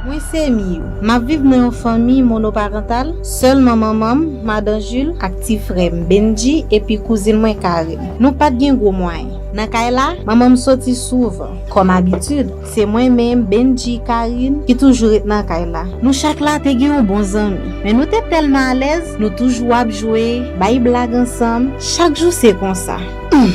Mwen se Miyou. M ap viv nan yon fanmi monoparantal, sèlman manman m, Madan Jil, ak ti frè m, Bennji, epi kouzin mwen, Karin. Nou pa t gen gwo mwayen. Nan kay la, manman m soti souvan, kòm abitid. Se mwen menm, Bendji, Karin, ki toujou ret nan kay la. Nou chak la te gen yon bon zanmi. Men nou te tèlman alèz, nou toujou ap jwe, bay blag ansanm. Chak jou se konsa. Humm!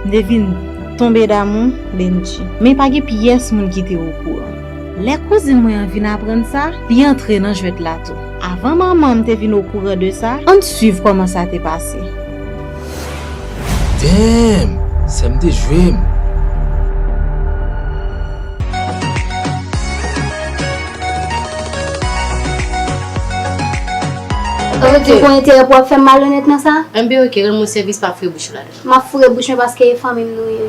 M te vin tonbe damou Bendji. Men pa gen pyès moun ki te okouran. Lè kouzin mwen an vin aprann sa, li antre nan jwèt la tou. Avan manman m te vin okouran de sa, ann suiv kòman sa te pase. Damn! Sèm te jwem! Ou te konn enterè pou wap fèm malonèt nan sa? MB ok rann mwen sèvis pa foure bouch ou ladan. Map foure bouch mwen paske e fanmim nou ye.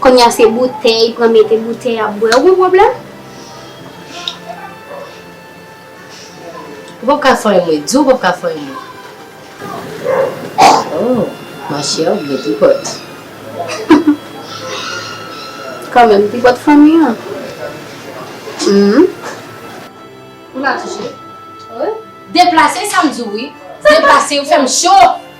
Konnya se boutey pran mete boutey ap bwè ou gon pwoblem? Ou pap ka fè yon mwen di ou pap ka fè yon mwen. Oh ma chère ou gen tripòt. Kanmenm tripòt fanmi an humm. Ou la tou chère. Deplase sa m di w wi. Deplase ou fè m cho.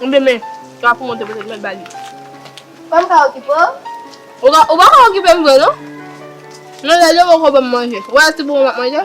Ou byen men sa pou monte pete mèt ba li. Fòm ka okipe w. Ou ka ou pa ka okipe m vre non. Men lè li poko banm manje. Ou wè se pou mwen map manje.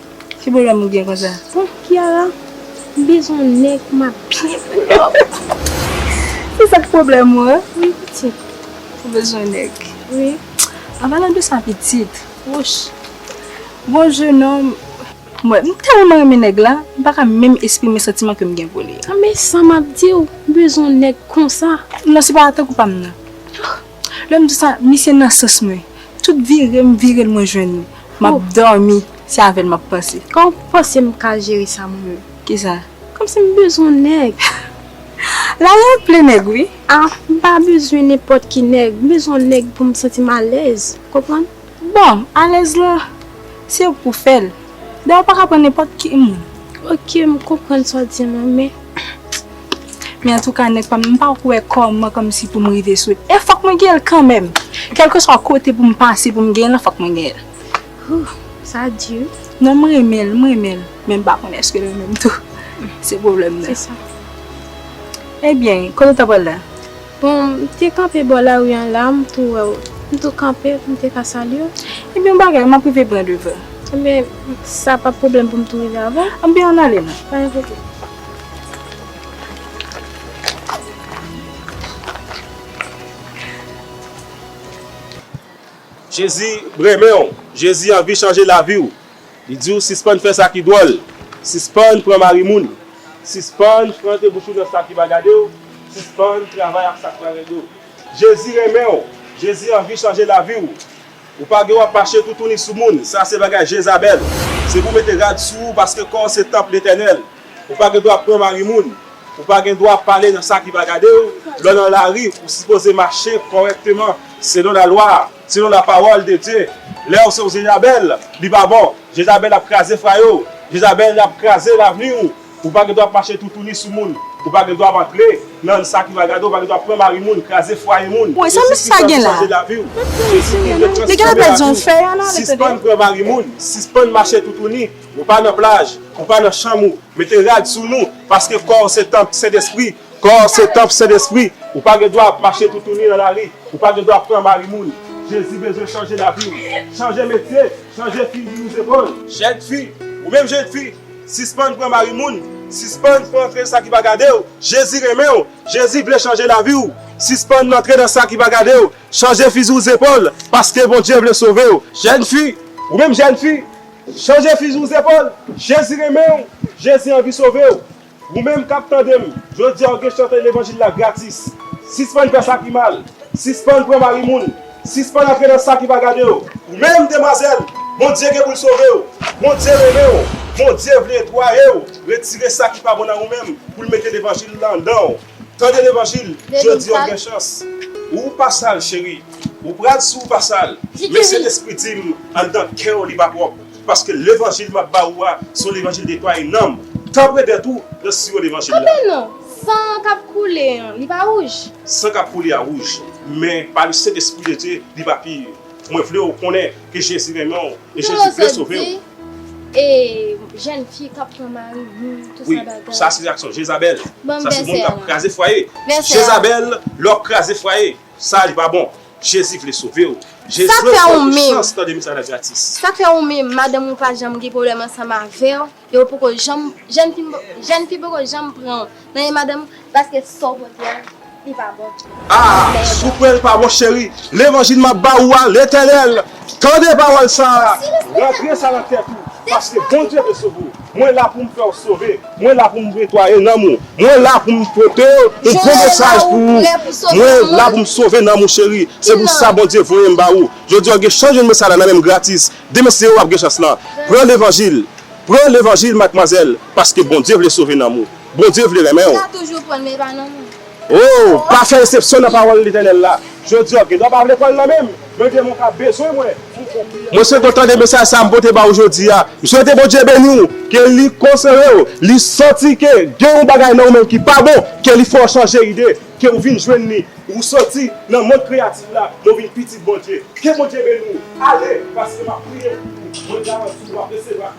Ki problem ou gen konsa. Bon Kiara m bezwen yon nèg pou map byen foulòp. Se sak pwoblèm ou an? Wi pitit. Ou bezwen nèg? Wi. An palan de sa pitit, wouch gon jenòm. Mwen m tèlman renmen nèg la, m paka menm esprime santiman ke m gen pou li. An men sa map diw, m bezwen yon nèg konsa. Non se pa tankou pa m nan. Lè m di sa, misye nan sans mwen. Tout vire m vire l mwen jwenn li. M ap dòmi, se avè l m ap panse. Kòman w panse m ka jere sa mwen menm? Ki sa? Kòmsi m bezwen nèg. Lari a plen nèg wi. A, m pa bezwen nenpòt ki nèg. M bezwen nèg pou m santi m alèz. Konprann? Bon, alèz lan, se ou pou fè l. Dayè ou pa ka pran nenpòt ki moun. Ok, m konprann sa w di m lan men. Men antouka nèg pa m, m pa ko wè kòman kòmsi pou m rive sou l. E fòk mwen genyen l kanmèm. Kèlkeswa kote pou m pase pou m genyen l lan, fòk mwen genyen l. Hoo, sa di wi. Non m renmen l, m renmen l. Men m pa konnen èske l renmen m tou. Se pwoblèm nan. Se sa. Ebyen, kote ou t ap pral la? Bon, m te kanpe bò lari an la, m tou wè w. M tou kanpe pou m te ka salye w. Ebyen yon bagay, m ap rive byen devan w. Ebyen, sa p ap pwoblèm pou m tou rive avan w? Ebyen ann ale nou. Pa gen pwoblèm. Jezi renmen w. Jezi anvi chanje lavi w. Li di w sispann fè sa ki dwòl, sispann pran mari moun, sispann frante bouch ou nan sa ki pa gade w, sispann travay ak sa k pa rele w. Jezi renmen w, Jezi anvi chanje lavi w. Ou pa gen wap mache toutouni sou moun, sa se bagay Jezabèl. Se pou w mete rad sou ou paske kò w se tanp Letènèl. Ou pa gen dwa pran mari moun, ou pa gen dwa pale nan sa ki pa gade w, lè w nan lari ou sipoze mache kòrèkteman selon lalwa a. Selon la parole de Dieu lèw se yon jezabèl li pa bon jezabèl ap kraze frayo jezabèl yap kraze lavni ou ou pa gen dwa ap mache toutouni sou moun ou pa gen dwa ap antre nan sa ki va gade ou pa gen dwa pran mari moun kraze fwaye moun jezi kris ap chanje lavi ou jezi kris gen chans chanje lavi ou sispann pran mari moun sispann mache toutouni ou pa nan plaj ou pa nan chanm ou mete rad sou nou paske kòw se tanp sentespri Kò w se tanp Sendespri. Ou pa gen dwa ap mache toutouni nan lari. Ou pa gen dwa pran mari moun. Jezi bezwen chanje lavi w. Chanje metye, chanje fi vini zepòl. Jèn fi, ou menm jèn fi, sispann pran mari moun, sispann frenken sa ki pa gade w. Jezi renmen w. Jezi vle chanje lavi w. Sispann antre nan sa ki pa gade w. Chanje fizi w zepòl, paske Bondye vle sove w. Jèn fi, ou menm jèn fi, chanje fizi w zepòl. Jezi renmen w. Jezi anvi sove w. Ou menm kap tande m, jodi a ou gen chante levanjil la gratis. Sispann fè sa ki mal, sispann pran mari moun, sispann antre nan sa ki pa gade w. Ou menm demwazèl, Bondye gen pou l sove w, Bondye renmen w, Bondye vle etwaye w, retire sa ki pa bon nan ou menm pou l mete levanjil la anndan w. Tande levanjil, jodi a ou gen chans. Ou pa sal cheri, ou pral si w pa sal, men Sentespri di m anndan kè w li pa pwòp. Paske levanjil map ba ou a son levanjil de toi et nanm tanpre de tou nan siwo levanjil la. Kanpe non! San an kap koule an li pa wouj? San kap koule a wouj, men pa le sent espri de Dye li pa pur. Mwen vle ou konnen ke Jezi renmen ou e Jezi vle sove ou. Kite mwen sot di e jèn fi kap pran mari moun tout sa bagay. Wi, sa se aksyon Jezabèl. Banm vèsè a. Sa se moun kap kraze fwaye. Vèsè a. Jezabèl lè wap kraze fwaye. Saj pa bon Jezi vle sovew. Sak fè ou menm Sak fè ou menm madanm ou pa janm gen pwoblèm ansanm avèw e ou poko janm jèn fi jèn fi poko janm pranw nan men madanm ou paske Saw pote a li pa bon Aa sou pranl pa bon cheri levanjil map ba ou a letènèl tande pawòl sa rantre sa nan tèt ou paske Bondye vle sove w. Mwen la pou m fè w sove. Mwen la pou m netwaye nanm ou. Mwen la pou m pote yon gwo mesaj pou ou. Mwen la pou m sove nanm ou cheri. Se pou sa Bondye voye m ba ou. Jodi a w gen chans jwenn mesaj la nan men m gratis. Demen se ou ap gen chans lan. Pran levanjil. Pran levanjil madmwazèl. Paske Bondye vle sove nanm ou. Bondye vle renmen ou. O! Pa fè esepsyon nan pawòl Letènèl la jodi a. W gen dwa pa vle kwè l nan menm, men gen moun k ap bezwen wè ou konfime l. Mwen se kontan de mesaj sa a m pote ba ou jodi a. M swete Bondye beni w, ke li konsole w, li santi ke gen yon bagay nan ou menm ki pa bon, ke li fè w chanje ide, ke ou vin jwenn li, ou soti nan mond kreyatif la, men w vin pitit Bondye. Ke Bondye beni w. Ale, paske m ap priye pou ou. Mwen garanti w, w ap resevwa.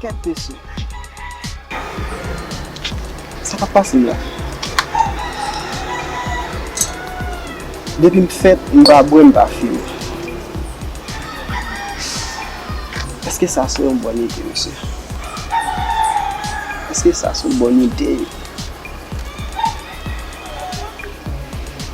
Kèt mesye. Sa kap pase la? Depim fèt m pa bwè m pa fimen. Eske sa se yon bòn ide mesye? Eske sa se yon bòn ide?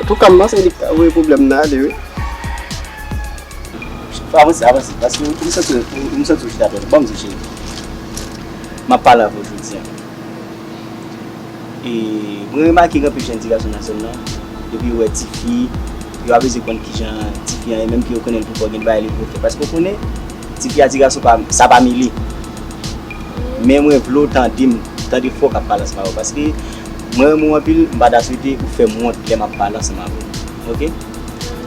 Antouka m panse li ka voye pwoblèm nan ale wi. Avanse avanse paske m santi w m santi w chita tèt ou banm diw cheri m ap pale avè w jodi an e mwen remake gen anpil jèn ti gason nan zòn nan depi yo wè tifi yo aveze konn kijan tifi an ye menm ke yo konnen l pi fò gen de bagay li vle fè paske w konnen tifi a ti gason pa sa pa mele men mwen vle w tande m tande fò w ka pale ansanm avè w paske. Mwen renmen w anpil m pa ta swete ou fè m wont lè m ap pale ansanm avè w ok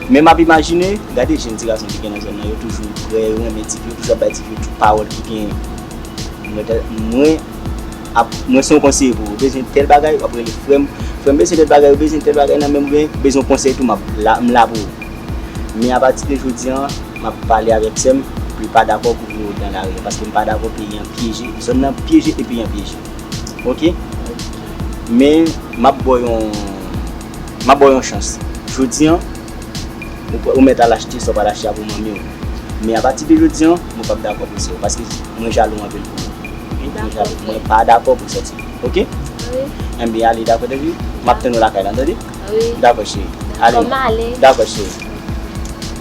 men m ap imajine gade jèn ti gason ki gen nan zòn nan yo toujou prè yo renmen ti fi yo toujou ap bay ti fi yo tout pawòl ki genyen mwen ta mwen ap mwen se yon konseye pou ou ou bezwen tèl bagay w ap rele frè m frè m bezwen tèl bagay ou bezwen tèl bagay nan men m ou byen ou bezwen yon konsèy tou m ap la m la pou ou men apati de jodi an m ap pale avèk sè m pou l pa dakò kouvri yo dan lari a paske m pa dakò peyi an pyeje zòn nan pyeje e peyi an pyeje. ok men map baw yon map baw yon chans jodi an ou mèt al achte sa ou pa ta achte a pou manmiw men apati de jodi an mwen pap dakò pou sa paske mwen jalou anpil pou ou mwen dakò frè mwen pa dakò pou sòti ok enben ale dakò tande map tann ou lakay lan tande dakò cheri ale dakò cheri.